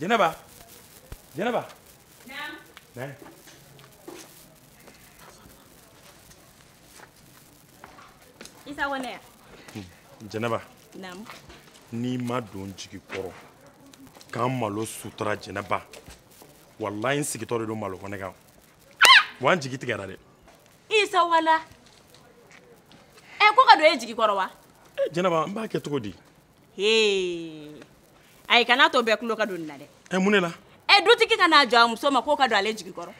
Jenaba. Jenaba. Naam. Isa wane ya? Jenaba. Naam. N'i ma don jigi kɔrɔ k'an malo sutura Jenaba walayi n sigitɔ de don malo kɔnɛ kan wa n jigi tigɛra dɛ. isa wala ɛ ko ka don e jigi kɔrɔ wa jɛnɛba n b'a kɛ cogo di ayi kana to bɛɛ tulo ka don nin na dɛ ɛ mun ne la ɛ dutigi ka na jɔ a muso ma k'o ka don ale jigi kɔrɔ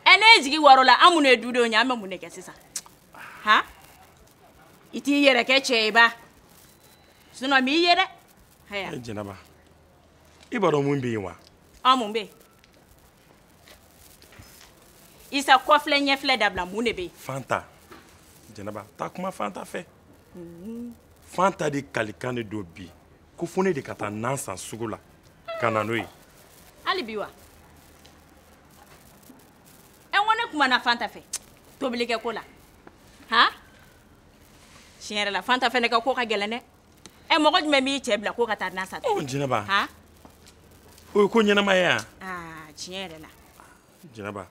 ɛ ne jigi waarola an minnu ye dudenw ye an bɛ mun de kɛ sisan han i t'i yɛrɛ kɛ cɛ ye ba sinɔn m'i ye dɛ jɛnɛba i b'a dɔn mun bɛ yen wa an mun bɛ yen isa kɔfilɛ ɲɛfilɛ dabila mun de bɛ yen fanta jɛnɛba taa kuma fanta fɛ fanta de kalikan de don bi ko fo ne de ka taa nan san sugu la ka na n'o ye hali bi wa ɛ n ko ne kumana fanta fɛ tobilikɛ ko la han tiɲɛ yɛrɛ la fanta fɛnɛ ka ko ka gɛlɛn dɛ ɛ mɔgɔ jumɛn b'i cɛ bila ko ka taa nan san oh, jɛnɛba o ye ko ɲɛnama ye yan ah, tiɲɛ yɛrɛ la jɛnɛba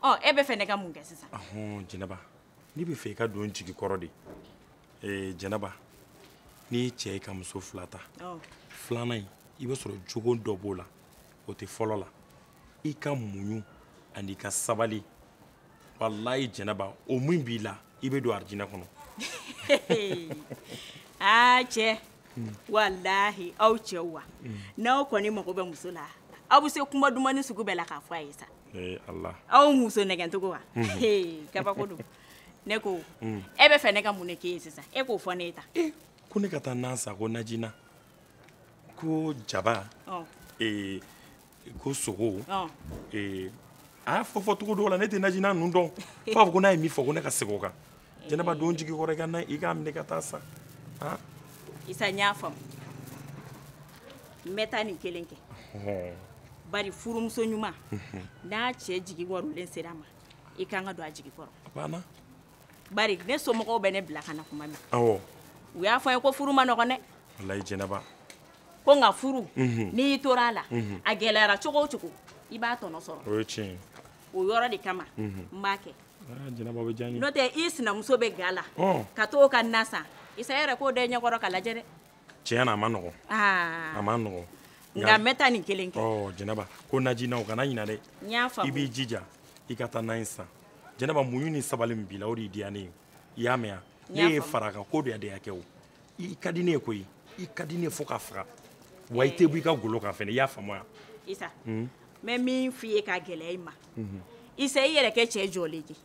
ɔ oh, e bɛ fɛ ne ka mun kɛ sisan jɛnɛba ne bɛ fɛ i ka don jigi kɔrɔ de ee jɛnɛba n'i ye cɛ ye ka muso fila ta oh. filanan in i bɛ sɔrɔ jogo dɔ b'o la o tɛ fɔlɔ la i ka muɲu an'i ka sabali walayi jɛnɛba o min b'i la i bɛ don arijinɛ kɔnɔ aa cɛ walahi aw cɛw wa n'aw kɔni mago bɛ muso la aw bɛ se kuma dumani sugu bɛɛ la k'a fɔ a ye sa aw muso nɛgɛncogo wa kabako don ne ko mm. e bɛ fɛ ne ka mun de k'e ye sisan e k'o fɔ ne ye ta eh, ko ne ka taa nan san ko najina ko jaba ko sogo a y'a fɔ fɔcogo dɔw la ne tɛ najina ninnu dɔn fo b'a fɔ ko n'a ye min fɔ ko ne ka segin o kan jɛnɛba don jigi kɔrɔ i k'a minɛ ka taa sa isa n y'a faamu n bɛ taa nin kelen kɛ bari furumuso ɲuman n'a cɛ jigi waarolen sera a ma i kan ka don a jigi kɔrɔ bari ne somɔgɔw bɛ ne bila ka na kuma min u y'a fɔ n ye ko furu ma nɔgɔn dɛ walayi jɛnɛba ko nka furu mhm. n'i tora a la mhm. a gɛlɛyara cogo o cogo i b'a tɔnɔ sɔrɔ o ye tiɲɛ o yɔrɔ de kama mhm. n b'a kɛ ah, n'o tɛ i sinamuso bɛ ga la oh. ka t'o ka nan san isa yɛrɛ k'o da i ɲɛkɔrɔ ka lajɛ dɛ tiɲɛ na a ma nɔgɔn ah. a ma nɔgɔn nka n bɛ taa nin kelen kɛ oh, jɛnɛba ko najina o kana ɲina dɛ i b'i jija i ka taa nan in san jɛnɛba muɲu ni sabali min b'i la o de y'i diya ne ye i y'a mɛn ne ye fara kan ko diya de y'a kɛ o i ka di ne ye koyi i ka di ne ye fo k'a faga wa i tɛ bɔ i ka golo kan fɛnɛ i y'a faamuya. isa n bɛ min f'i ye k'a gɛlɛya i ma isa i yɛrɛ kɛ cɛ jɔlen ye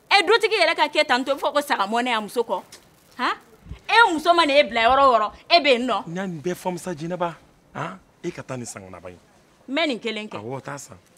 ɛ dutigi yɛrɛ ka kɛ tan to fɔ ko sagamɔnɛ y'a muso kɔ han e muso mana e bila yɔrɔ o yɔrɔ e bɛ yen nɔ. n y'a nin bɛɛ faamu sa jɛnɛba han e ka taa nin sangonaba in. n bɛ nin kelen kɛ. awɔ taa san.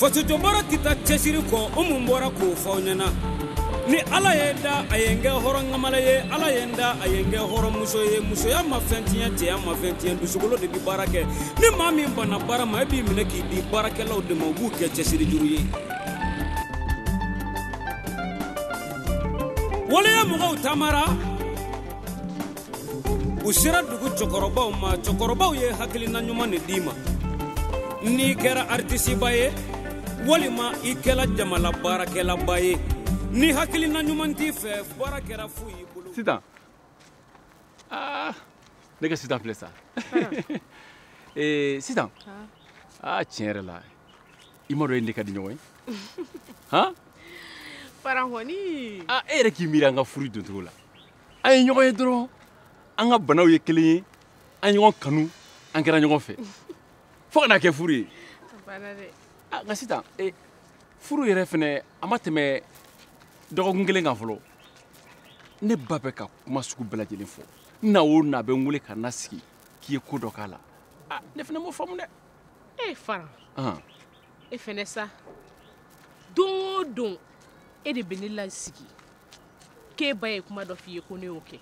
fasojɔ baara tɛ taa cɛsiri kɔ o mun bɔra k'o fɔ aw ɲɛna ni ala ye n da a ye n kɛ hɔrɔn kamalen ye ala ye n da a ye n kɛ hɔrɔnmuso ye musoya ma fɛn tiɲɛ cɛya ma fɛn tiɲɛ dusukolo de bɛ baara kɛ ni maa min banna baara ma e b'i minɛ k'i di baarakɛlaw de ma u b'u kɛ cɛsiri juru ye waleya mɔgɔw taamara u sera dugu cɛkɔrɔbaw ma cɛkɔrɔbaw ye hakilina ɲuman de d'i ma n'i kɛra aritisiba ye walima i kɛla jamana baarakɛlaba ye ni hakilina ɲuman t'i fɛ baara kɛra fu y'i bolo sitan aa ah, ne ka sitan filɛ sa eh, sitan aa ah, tiɲɛ yɛrɛ la i m'a dɔn e ne ka di ɲɔgɔn ye han faran kɔni aa ah, e yɛrɛ k'i miiri an ka furu doncogo la an ye ɲɔgɔn ye dɔrɔn an ka banaw ye kelen ye an ɲɔgɔn kanu an kɛra ɲɔgɔn fɛ fo ka na kɛ furu ye ah, nka sitan eh, furu yɛrɛ fɛnɛ a ma tɛmɛ dɔgɔkun kelen kan fɔlɔ ne ba bɛ ka kuma sugu bɛɛ lajɛlen fɔ n na o na bɛ n wele ka na sigi k'i ye ko dɔ k'a la ah, ne fɛnɛ m'o faamu dɛ e fara e fɛnɛ sa don o don e de bɛ ne lasigi k'e ba ye kuma dɔ f'i ye ko ne y'o kɛ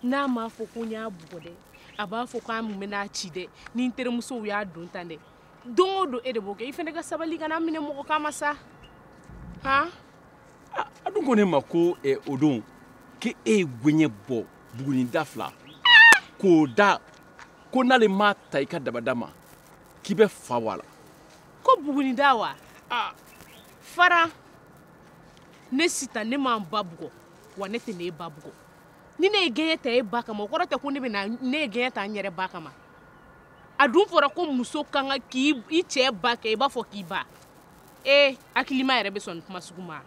n'a m'a fɔ ko n y'a bugɔ dɛ a b'a fɔ ko an mun bɛn'a ci dɛ ni n terimusow y'a don tan dɛ don o don e de b'o kɛ i fɛnɛ ka sabali kana minɛ mɔgɔ kan ma sa han a dun ko ne ma ko eh, o don k'e ye gɛɲɛ bɔ buguni da fila k'o da ko n'ale m'a ta i ka dabada ma k'i bɛ fa bɔ a la ko buguni da wa fara ne sitan ne ma n ba bugɔ wa ne tɛn'e ba bugɔ ni ne ye gɛɲɛ ta e ba kama o kɔrɔ tɛ ko ne bɛ na ne ye gɛɲɛ ta n yɛrɛ ba kama a dun fɔra ko muso kan ka i cɛ ba kɛ i b'a fɔ k'i ba ee hakilima yɛrɛ bɛ sɔn nin kuma sugu ma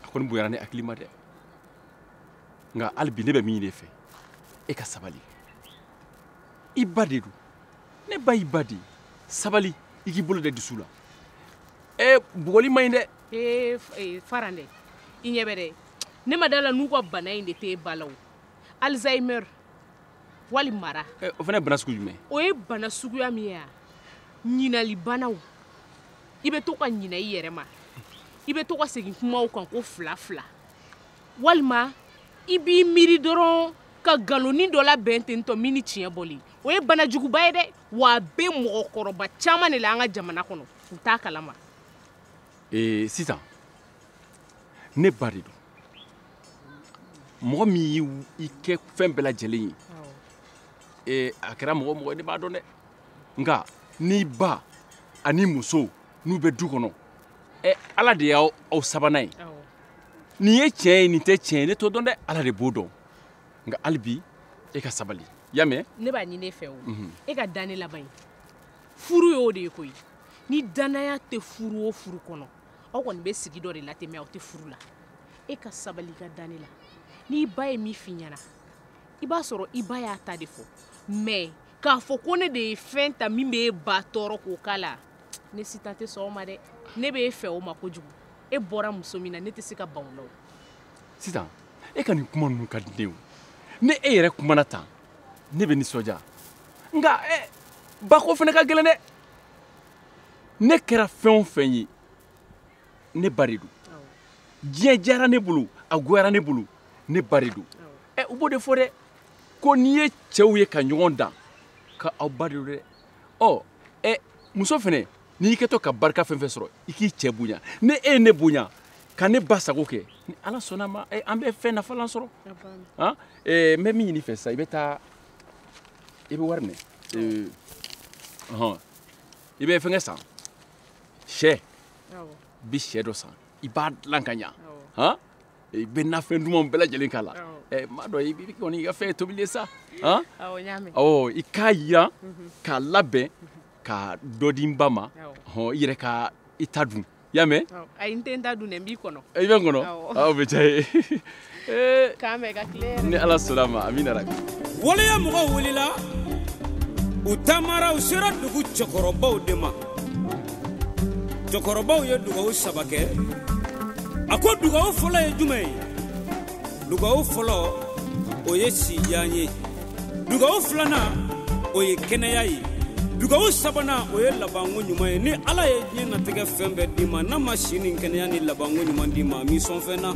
a kɔni bonyara ne hakili ma dɛ nka hali bi ne bɛ min ɲini e fɛ e ka sabali i ba de don ne ba y'i ba de ye sabali i k'i bolo da i dusu la ɛ bugɔli man ɲi dɛ ee eh, faran dɛ i ɲɛ bɛ dɛ ne ma da la n'u ka bana in de tɛ e ba la o alzheimer wali mara eh, o fana ye bana sugu jumɛn o ye bana suguya min ye a ɲinali bana o i bɛ to ka ɲina i yɛrɛ ma i bɛ to ka segin kumaw kan ko fila fila walima i b'i miiri dɔrɔn ka nkaloni dɔ labɛn ten tɔ min ni tiɲɛ bɔlen o ye bana juguba ye dɛ wa a bɛ mɔgɔkɔrɔba caman de la an ka jamana kɔnɔ u t'a kalama ee sisan ne ba de don mɔgɔ min y'i kɛ fɛn bɛɛ lajɛlen ye ee a kɛra mɔgɔ o mɔgɔ ye ne b'a dɔn dɛ nka n'i ba ani muso n'u bɛ du kɔnɔ ɛ ala de y'aw sabanan ye nin ye tiɲɛ ye nin tɛ tiɲɛ ye ne t'o dɔn dɛ ala de b'o dɔn nka hali bi e ka sabali i y'a mɛn ne b'a ɲini e fɛ o mhm. e ka da ne la bari furu y'o de ye koyi ni danaya tɛ furu o furu kɔnɔ aw kɔni bɛ sigi dɔ de latɛmɛ aw tɛ furu la e ka sabali ka da ne la n'i ba ye min f'i ɲɛna i b'a sɔrɔ i ba y'a ta de fɔ mɛ k'a fɔ ko ne de ye fɛn ta min bɛ e ba tɔɔrɔ k'o k'a la ne sitan tɛ sɔn o ma dɛ ne bɛ e fɛ o ma kojugu e bɔra muso min na ne tɛ se ka ban o la o sitan e ka nin kuma ninnu ka di ne ye o ni e yɛrɛ kumana tan ne bɛ nisɔndiya nka ɛ bako fana ka gɛlɛn dɛ ne kɛra fɛn o fɛn ye ne ba de don diɲɛ diyara ne bolo a goyara ne bolo ne ba de don ɛ u b'o de fɔ dɛ ko n'i ye cɛw ye ka ɲɔgɔn dan ka aw ba de don dɛ ɔ ɛ muso fɛnɛ n'i kɛtɔ ka barika fɛn fɛn sɔrɔ i k'i cɛ bonya ni e ye ne bonya ka ne ba sago kɛ ni ala sɔnna a ma an bɛ fɛn nafalan sɔrɔ n bɛ min ɲini i fɛ sisan i bɛ taa i bɛ wari minɛ hɔn i bɛ fɛnkɛ san sɛ bi sɛ dɔ san i b'a dilan ka ɲa hɔn i bɛ nafɛn dumanw bɛɛ lajɛlen k'a la i m'a dɔn i kɔni i ka fɛn ye tobili ye sa hɔn awɔ i k'a yiran k'a labɛn ka dɔ di n ba ma hɔn i yɛrɛ ka i ta dun i y'a mɛn ayi n tɛ n ta dun dɛ n b'i kɔnɔ i bɛ n kɔnɔ o bɛ diya ye k'an bɛn ka tile hɛrɛ ni ala sɔnna a ma amina rabi waleya mɔgɔw wulila u taamara u sera dugu cɛkɔrɔbaw de ma cɛkɔrɔbaw ye dugawu saba kɛ a ko dugawu fɔlɔ ye jumɛn ye dugawu fɔlɔ o ye sijan ye dugawu filanan o ye kɛnɛya ye dugawu sabanan o ye labanko ɲuman ye ni ala ye diɲɛ natigɛ fɛn bɛɛ d'i ma n'a ma si ni kɛnɛya ni labanko ɲuman d'i ma a m'i sɔn fɛn na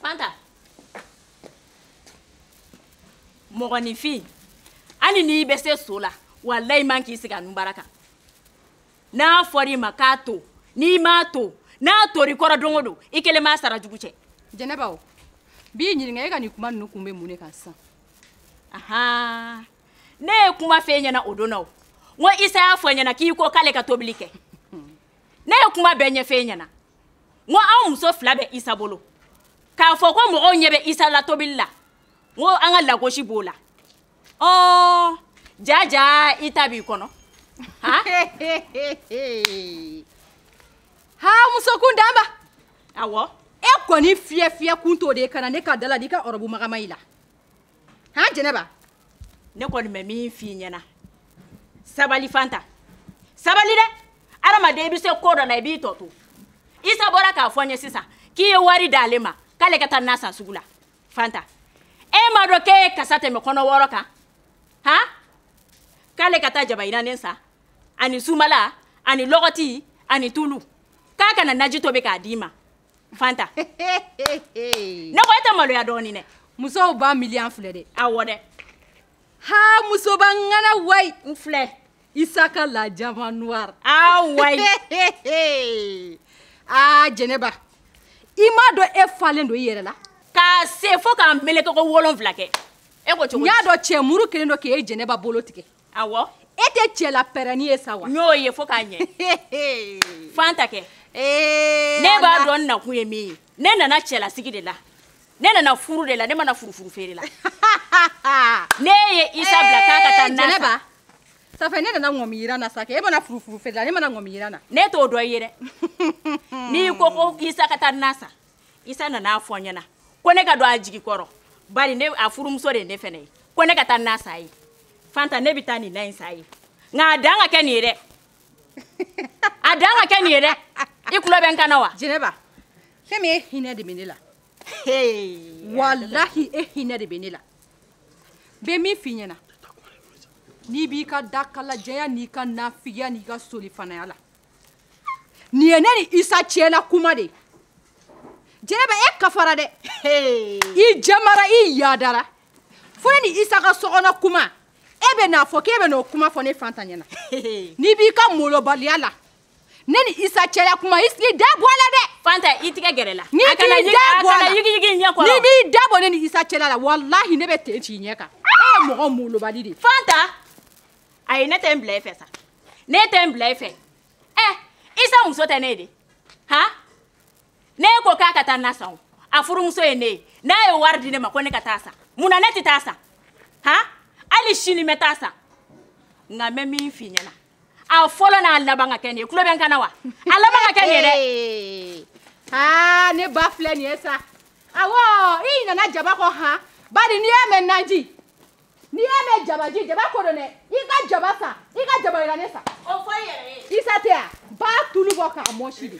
fanta mɔgɔninfin hali n'i bɛ se so la walayi man k'i sigi a nunbara kan n'a fɔra i ma k'a to n'i m'a to n'a tor'i kɔrɔ don o don i kelen b'a sara jugu cɛ jɛnɛba o b'i ɲininka e ka nin kuma ninnu kun bɛ mun de kan sisan ahan ne ye kuma f'e ɲɛna o don na o n ko isa y'a fɔ n ɲɛna k'i ko k'ale ka tobili kɛ ne ye kuma bɛɛ ɲɛf'e ɲɛna n ko anw muso fila bɛ isa bolo k'a fɔ ko mɔgɔw ɲɛ bɛ isa la tobili la n ko an ka lagosi b'o la ɔɔ jaja i ta b'i kɔnɔ han ha muso kuntanba awɔ e kɔni fiyɛfiyɛ kun t'o de ye ka na ne ka da la n'i ka ɔrɔbu magama i la han jɛnɛba ne kɔni bɛ min f'i ɲɛna sabali fanta sabali dɛ adamaden i bɛ se ko dɔ la i b'i tɔ to isa bɔra k'a fɔ n ye sisan k'i ye wari d'ale ma k'ale ka taa na san sugu la fanta e m'a dɔn k'e ye kasa tɛmɛ kɔnɔ wɔɔrɔ kan han k'ale ka taa jaba yiranen san ani sumala ani lɔgɔti ani tulu k'a ka na naji tobi k'a d'i ma fanta ne ko e tɛ maloya dɔɔni dɛ musoba miliyan filɛ dɛ awɔ dɛ ha musoba ŋana wayi n filɛ Isa ka la diamant noir ah wayi aa jɛnɛba i m'a dɔn e falen don i yɛrɛ la k'a se fo k'a meleke ko wolonfila kɛ e ko cogo n y'a dɔn cɛ muru kelen don k'e jɛnɛba bolo tigɛ awɔ e tɛ cɛla pɛrɛnni ye sa wa n y'o ye fo k'a ɲɛ fanta kɛ ne b'a dɔn n nakun ye min ye ne nana cɛlasigi de la ne nana furu de la ne ma na furufuru feere la ne ye isa bila k'a ka taa na san ça fait ne nana ŋɔmi yiran na sa kɛ e ma na furufuru feere la ne ma na ŋɔmi yiran na ne t'o dɔ ye dɛ n'i ko ko isa ka taa na san isa nana a fɔ n ɲɛna ko ne ka don a jigi kɔrɔ bari ne a furumuso de ye ne fɛnɛ ye ko ne ka taa na san ye fanta ne bɛ taa nin na in san ye nka a dan ka kɛ nin ye dɛ a dan ka kɛ nin ye dɛ i tulo bɛ n kan na wa jɛnɛba fɛn min e hinɛ de bɛ ne la walahi e hinɛ de bɛ ne la bɛ min f'i ɲɛna n'i b'i ka dakalajɛya n'i ka nafigiya n'i ka solifanaya la nin ye ne ni isa cɛla kuma de jɛnɛba e kafara dɛ i jamara i yadara fo ne ni isa ka sokɔnɔ kuma e bɛ n'a fɔ k'e bɛ n'o kuma fɔ ne fanta ɲɛna n'i b'i ka molobaliya la ne ni isa cɛla kuma i da bɔ a la dɛ fanta i tigɛ gɛrɛ la n'i t'i da bɔ a la n'i b'i da bɔ ne ni isa cɛla la walahi ne b'e ten ci ɲɛ kan e ye mɔgɔ molobali de fanta ayi ne tɛ n bila i fɛ sa ne tɛ n bila i fɛ ɛ isa muso tɛ ne de han ne ko k'a ka taa na san o a furumuso ye ne ye n'a ye wari di ne ma ko ne ka taa san mun na ne tɛ taa san han hali sini n bɛ taa san nka n bɛ min f'i ɲɛ na a fɔlɔ n'a laban ka kɛ nin ye tulo bɛ n kan na wa a laban ka kɛ nin ye dɛ aa ne ba filɛ nin ye sa awɔ i ɲinɛna jaba kɔ han bari n'i y'a mɛn naji n'i y'a mɛn jabaji jaba ko don dɛ i ka jaba san i ka jaba jirannen san o fɔ i yɛrɛ ye isa tɛ yan ba tulu bɔ k'a mɔsi dɛ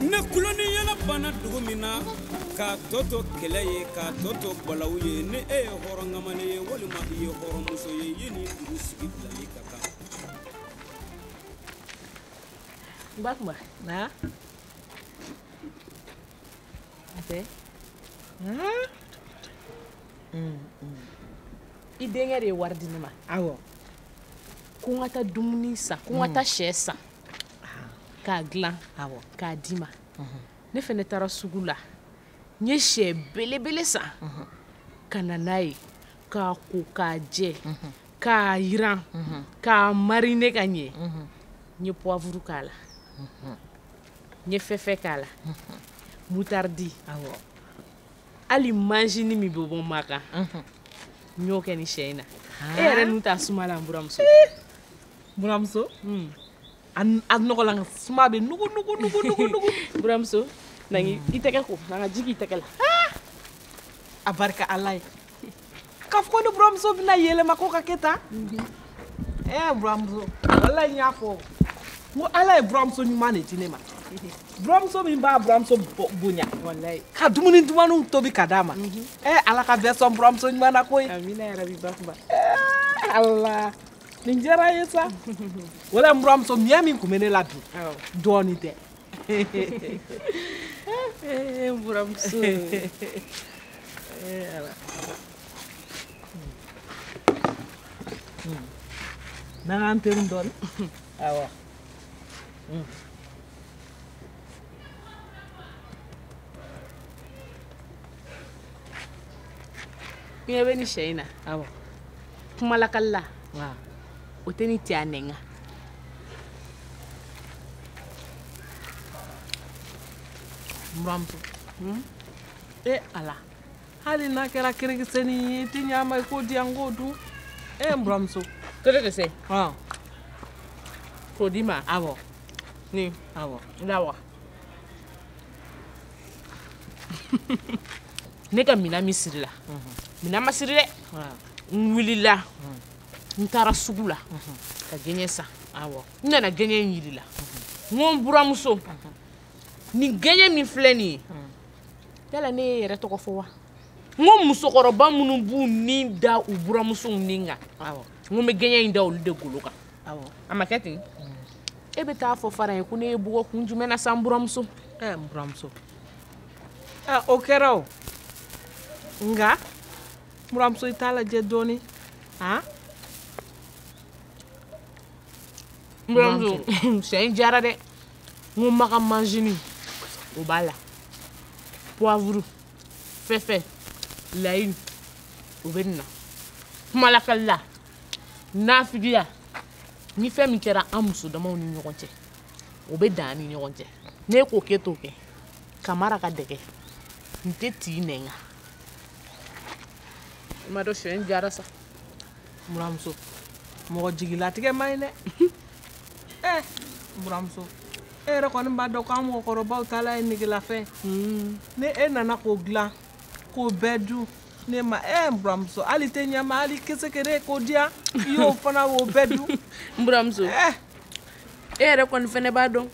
ni tulon ni yɛlɛ banna dugu min na k'a tɔ to kɛlɛ ye k'a tɔ to balawu ye ni e ye hɔrɔn kamalen ye walima i ye hɔrɔnmuso ye e ni dugu sigi bilali ka kan n ba kuma na tɛ i denkɛ de ye wari di ne ma awɔ ko n ka taa dumuni san ko n ka taa sɛ san k'a dilan k'a d'i ma ne fɛnɛ taara sugu la n ye sɛ belebele san ka na n'a ye k'a ko k'a jɛ k'a yiran k'a marine ka ɲɛ n ye poivre k'a la n ye fɛfɛ k'a la mutardi hali majini min bɛ bɔ makan n y'o kɛ ni sɛ in na e yɛrɛ nun t'a suma la n buramuso buramuso a nɔgɔlan suma bɛ nugu nugu nugu nugu nugu buramuso na i tɛgɛ ko na n ka ji k'i tɛgɛ la a barika ala ye k'a fɔ ko ne buramuso bɛna yɛlɛma ko ka kɛ tan ɛɛ buramuso wala n y'a fɔ n ko ala ye buramuso ɲuman de di ne ma buramuso min b'a buramuso bonya ka dumuni dumanw tobi ka d'a ma ɛɛ ala ka bɛɛ sɔn buramuso ɲuman na koyi ala nin diyara n ye sa wala n buramuso miɲɛ min tun bɛ ne la bi dɔɔnin tɛ Eh, n buramuso eh, na nga an peru dɔɔni awa ɲɛ bɛ ni sɛ in na awɔ kumalakali la o tɛ ni cɛ a nɛn kan buramuso hmm? e ala hali n'a kɛra kerekisɛni ye i tɛ ɲɛ a ma i k'o di yan n k'o dun e n buramuso kerekisɛ k'o d'i ma awɔ ni awɔ lawa ne ka mina min sirila mina ma siri dɛ n wulila n taara sugu la ka gɛɲɛ san n nana gɛɲɛ in yir'i la n ko n buramuso nin gɛɲɛ min filɛ nin ye yala ne y'e yɛrɛ tɔgɔ fɔ wa n ko musokɔrɔba minnu b'u ni da u buramusow ni kan n ko n bɛ gɛɲɛ in da olu de golo kan a ma kɛ ten e bɛ taa fɔ fara ye ko ne y'e bugɔ kun jumɛn na sa buramuso ɛɛ n buramuso ɛɛ o kɛra o nka buramuso i t'a lajɛ dɔɔnin han buramuso sɛ in diyara dɛ n ko maga manzini o b'a la poivre fɛfɛ layi o bɛ nin na kumalakali la nafigiya ni fɛn min kɛra an muso damaw ni ɲɔgɔn cɛ o bɛ dan an ni ɲɔgɔn cɛ ne k'o kɛ t'o kɛ kamara ka dɛgɛ n tɛ t'i nɛn kan i m'a dɔn sɛ in diyara sa buramuso mɔgɔ jigilatigɛ man ɲi dɛ ɛ buramuso e yɛrɛ kɔni b'a dɔn k'an mɔgɔkɔrɔbaw taala ye negelafɛn ni e nana k'o dilan k'o bɛɛ dun ne ma ɛ n buramuso hali tɛ ɲɛma hali kesekere k'o di yan i y'o fana o bɛɛ dun n buramuso eh. e yɛrɛ kɔni fɛnɛ b'a dɔn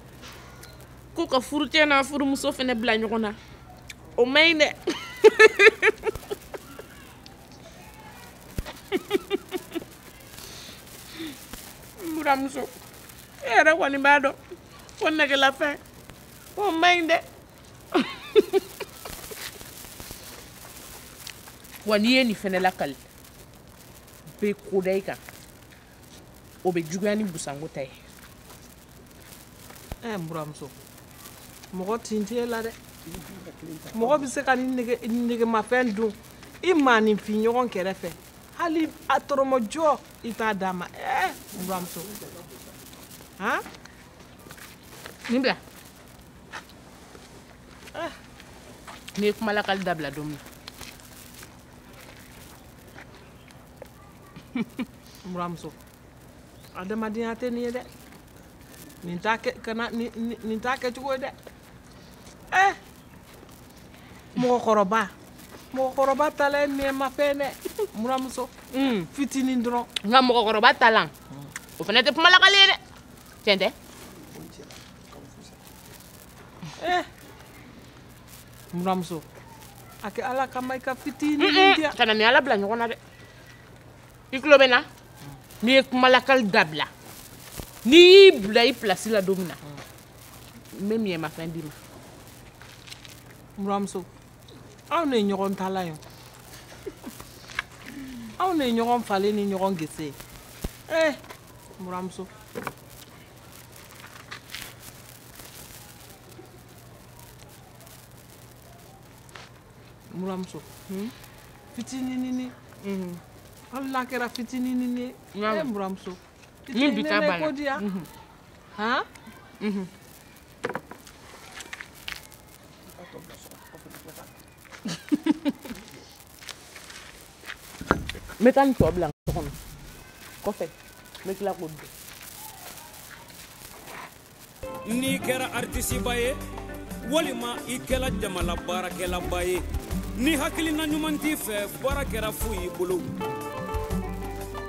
ko ka furucɛ n'a furumuso fɛnɛ bila ɲɔgɔn na o man ɲi dɛ n buramuso e yɛrɛ kɔni b'a dɔn ko negelafɛn o man ɲi dɛ wa n'i ye nin fɛnɛ lakali bɛ ko da i kan o bɛ juguya ni busanko ta ye ɛɛ n buramuso mɔgɔ tin tɛ e la dɛ mɔgɔ bɛ se ka ni negemafɛn dun i maaninfin ɲɔgɔn kɛrɛfɛ hali a tɔrɔmɔjɔ i t'a d'a ma ɛɛ n buramuso han nin bila ah. n'i ye kumalakali dabila don min buramuso adamadenya tɛ nin ye dɛ nin t'a kɛ kana nin t'a kɛcogo ye dɛ ɛ eh! mɔgɔkɔrɔba mɔgɔkɔrɔba talan ye negemafɛn dɛ n buramuso hmm. fitinin dɔrɔn nka mɔgɔkɔrɔba talan o fana tɛ kumalakali ye dɛ tiɲɛ tɛ Eh. Muramuso. A kɛ ala kama i ka fitinin mm -mm. kana n ni ala bila ɲɔgɔn na dɛ i tulo bɛ n na n'i ye kumalakali dabila n'i y'i bila i pilasi la don min na n bɛ n'i ɲɛmafɛn d'i ma muramuso anw de ye ɲɔgɔn tala ye anw de ye ɲɔgɔn falen ni ɲɔgɔn gese ye eh muramuso muramuso hmm? fitininini hmm. hali n'a kɛra fitininini ye e muramuso ni bi ta bala ko diya han n bɛ taa nin tɔ bila so kɔnɔ kɔfɛ n bɛ tila k'o dun n'i kɛra aritisiba ye walima i kɛla jamana baarakɛlaba ye ni hakilina ɲuman t'i fɛ baara kɛra fu y'i bolo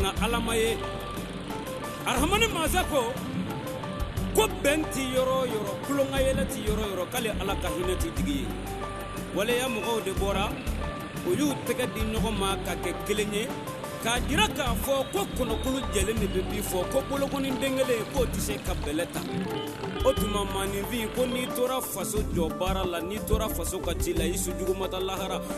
nka ala ma ye arahamani masa ko ko bɛn tɛ yɔrɔ o yɔrɔ tulonkayɛlɛ tɛ yɔrɔ o yɔrɔ k'ale ala ka hinɛ tɛ jigin yen waleya mɔgɔw de bɔra u y'u tɛgɛ di ɲɔgɔn ma ka kɛ kelen ye k'a jira k'a fɔ ko kɔnɔkulu jɛlen de bɛ bii fɔ ko bolokɔni den kelen k'o tɛ se ka bɛlɛ ta o tuma maaninfin ko n'i tora faso jɔ baara la n'i tora faso ka ci la i su jugu ma taa lahara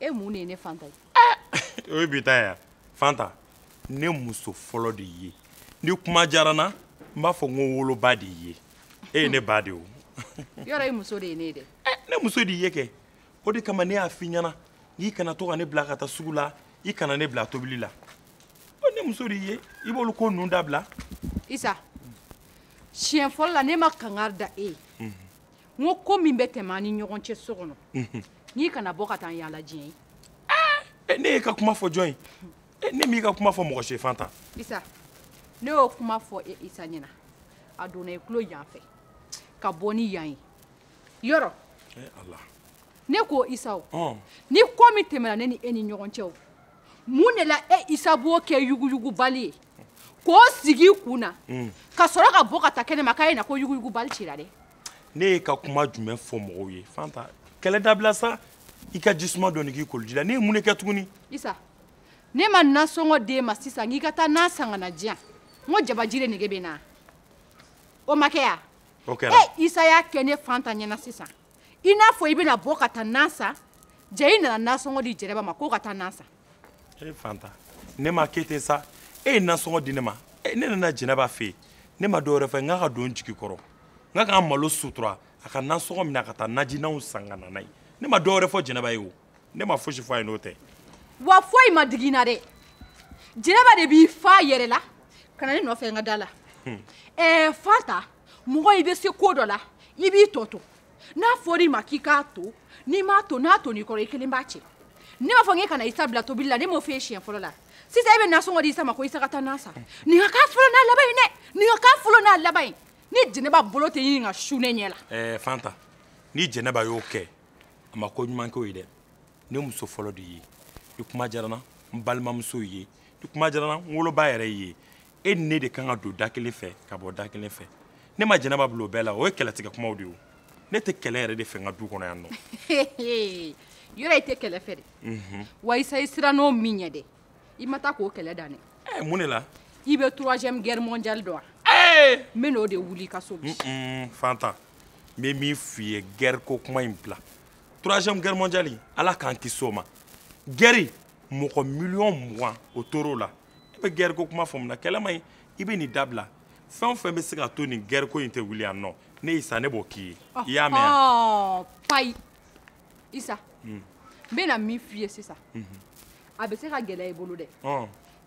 e mun de ye ne fanta ye eh, o ye bi ta ye fanta ne muso fɔlɔ de ye ni kuma diyara n na n b'a fɔ n ko n woloba de ye e ye ne ba de o yɔrɔ e muso de ye ne ye dɛ eh, ne muso de ye kɛ o de kama ne y'a f'i ɲɛna n k'i kana to ka ne bila ka taa sugu la i kana ne bila tobili la ne muso de ye i b'olu ko ninnu dabila isa siɲɛ fɔlɔ la ne ma kangari da e ye n ko ko min bɛ tɛmɛ an ni ɲɔgɔn cɛ so kɔnɔ n k'i kana bɔ ka taa n yaala diɲɛ ye eh, ne y'e ka kuma fɔ jɔn ye eh, ne m'i ka kuma fɔ mɔgɔ si fanta isa ne y'o kuma fɔ e isa ɲɛna a donna i tulo yan fɛ ka bɔ ni yan ye yɔrɔ eh, ne ko isa ni ko min tɛmɛna ne ni e ni ɲɔgɔn cɛ o mun de la e isa b'o kɛ yuguyugu bali ye k'o sigi i kun na mm. ka sɔrɔ ka bɔ ka taa kɛnɛ ma k'a ye na ko yuguyugu bali cira dɛ ne y'e ka kuma jumɛn fɔ mɔgɔw ye fanta kɛlɛ dabila sa i ka jisuma dɔɔni k'i koloji la ne ye mun de kɛ tuguni isa ne ma nasɔngɔ d'e ma sisan k'i ka taa na san ka na diyan n ko jabaji de nege bɛ n na o ma kɛ ya o kɛra ɛ isa y'a kɛ ne fanta ɲɛna sisan i n'a fɔ i bɛna bɔ ka taa na san jaa i nana nasɔngɔ di jɛnɛba ma k'o ka taa na san e fanta ne ma kɛ ten sa e ye nasɔngɔ di ne ma e, ne nana jɛnɛba fɛ yen ne ma dɔwɛrɛ fɔ n k'a ka don n jigi kɔrɔ n k'a ka n malo sutura a ka nasɔngɔ minɛ a ka taa najinanw san ka na n'a ye ne ma dɔwɛrɛ fɔ jɛnɛba ye o ne ma fosi fɔ a ye n'o tɛ wa foyi ma digi n na dɛ jɛnɛba de b'i fa yɛrɛ la ka na ne nɔfɛ n ka da la ɛɛ fanta mɔgɔ i bɛ se ko dɔ la i b'i tɔ to n'a fɔra i ma k'i k'a to n'i m'a to n'a tonn'i kɔrɔ i kelen b'a cɛ ne m'a fɔ n k'e kana isa bila tobili la ne m'o f'e siɲɛ fɔlɔ la sisan e bɛ nasɔngɔ di isa ma ko isa ka taa na san nin ka k'a fɔlɔ n'a laban ye dɛ nin ka k'a fɔlɔ n'a laban ye ni jɛnɛba bolo tɛ ɲini ka su ne ɲɛ la. ɛɛ fanta ni jɛnɛba y'o kɛ a ma ko ɲuman k'o ye dɛ ne muso fɔlɔ de y'i ye ni kuma diyara n na n balimamuso y'i ye ni kuma diyara n na n woloba yɛrɛ y'i ye e ni ne de kan ka don da kelen fɛ ka bɔ da kelen fɛ ne ma jɛnɛba bila o bɛɛ la o ye kɛlɛtigɛ kumaw de ye ne tɛ kɛlɛ yɛrɛ de fɛ n ka du kɔnɔ yan nɔ yɔrɔ i tɛ kɛlɛ fɛ dɛ mhm. wa isa i sirann'o min ɲɛ dɛ i ma taa k'o kɛlɛ dan dɛ eh, mun de la i bɛ troisième guerre mondiale dɔn wa eh! n bɛn'o de wuli i ka so bi fanta n bɛ min f'i ye guerre ko kuma in bila troisième guerre mondiale ala k'an kisi o ma guerre mɔgɔ miliyɔn mugan o tor'o la e bɛ guerre ko kuma fɔ mun na kɛlɛ man ɲi i bɛ nin dabila fɛn o fɛn bɛ se ka to nin guerre ko in tɛ wuli yan nɔ ne isa ne b'o k'i ye i y'a mɛn yan. payi isa n bɛna min f'i ye sisan a bɛ se ka gɛlɛya i bolo dɛ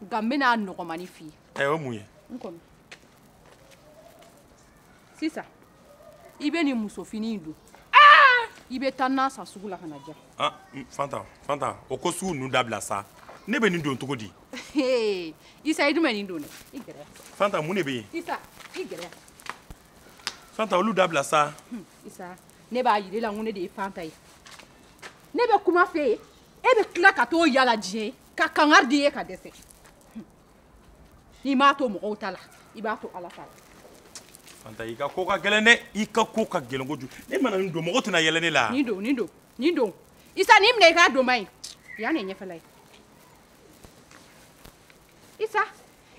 nka n bɛna a nɔgɔmani f'i ye. ɛ o ye mun ye. n kɔnɔ sisan. i bɛ nin musofini in don ah! i bɛ taa na san sugu la ka na diya ah, fanta fanta o ko sugu ninnu dabila sa ne bɛ nin don cogo di isa i dun bɛ nin don dɛ i gɛrɛ yan fanta mun de bɛ yen isa i gɛrɛ yan fanta olu dabila sa hmm, isa ne b'a yir'e la n ko ne de ye fanta ye ne bɛ kuma f'e ye e bɛ tila ka t'o yala diɲɛ ye ka kangari d'i ye ka dɛsɛ n'i m'a to mɔgɔw ta la i b'a to ala ta la fanta i ka ko ka gɛlɛn dɛ i ka ko ka gɛlɛn kojugu ne mana nin don mɔgɔ tɛna yɛlɛ ne la nin don nin don nin don isa nin minɛ i k'a don n b'a ye yan de ye ɲɛfɛla ye isa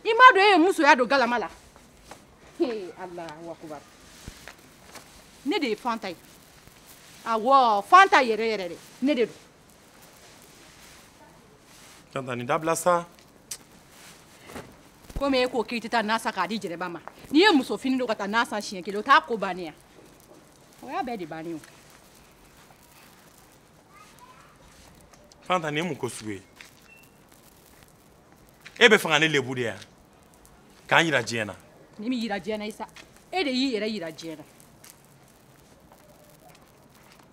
i m'a dɔn e ye musoya don galama la alahu akubar ne de ye fanta ye awɔ fanta yɛrɛ yɛrɛ de ne de don fanta nin dabila sa komi e ko k'i tɛ taa na san k'a di jɛnɛba ma n'i ye muso fini don ka taa na san siɲɛ kelen o t'a ko bannen ye wa o y'a bɛɛ de bannen ye fanta nin ye mun ko sugu ye e bɛ fɛ ka ne lebu de yan ka n yira diɲɛ na ne m'i yira diɲɛ na isa e de y'i yɛrɛ yira diɲɛ na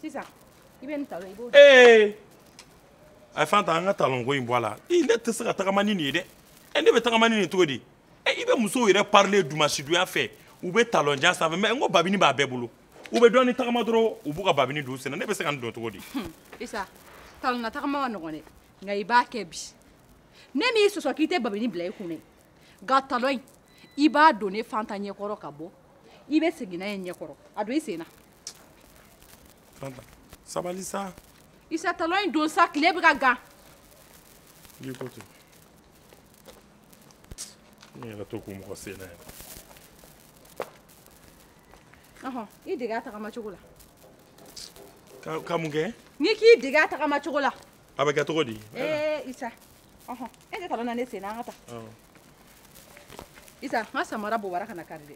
sisan i bɛ nin talon i b'o don. ee ayi fanta an ka talon ko in bɔ a la i ne tɛ se ka tagama ni nin ye dɛ ɛ ne bɛ tagama ni nin cogo di ɛ i bɛ musow yɛrɛ parilen dumasidonya fɛ u bɛ talon jan sanfɛ mais n ko babini b'a bɛɛ bolo u bɛ dɔɔni tagama dɔrɔn u b'u ka babini don u sen na ne bɛ se ka nin don cogo di. isa talonna tagama man nɔgɔn dɛ nka i b'a kɛ bi ne m'i sɔsɔ k'i tɛ babini bila i kun dɛ nka talon in i b'a don ne fanta ɲɛkɔrɔ ka bɔ i bɛ segin n'a ye ɲɛkɔrɔ a don i sen na. sabali sa isa talon in don sa tile bɛ ka gan i ko ten nin yɛrɛ tɛ kun mɔgɔ sen na yɛrɛ ɔhɔn i dege a tagama cogo la ka ka mun kɛ n'i k'i dege a tagama cogo la a bɛ kɛ cogo di ee isa ɔhɔn e tɛ talon na ne sen na an ka taa isa n ka samara bobara kana kari dɛ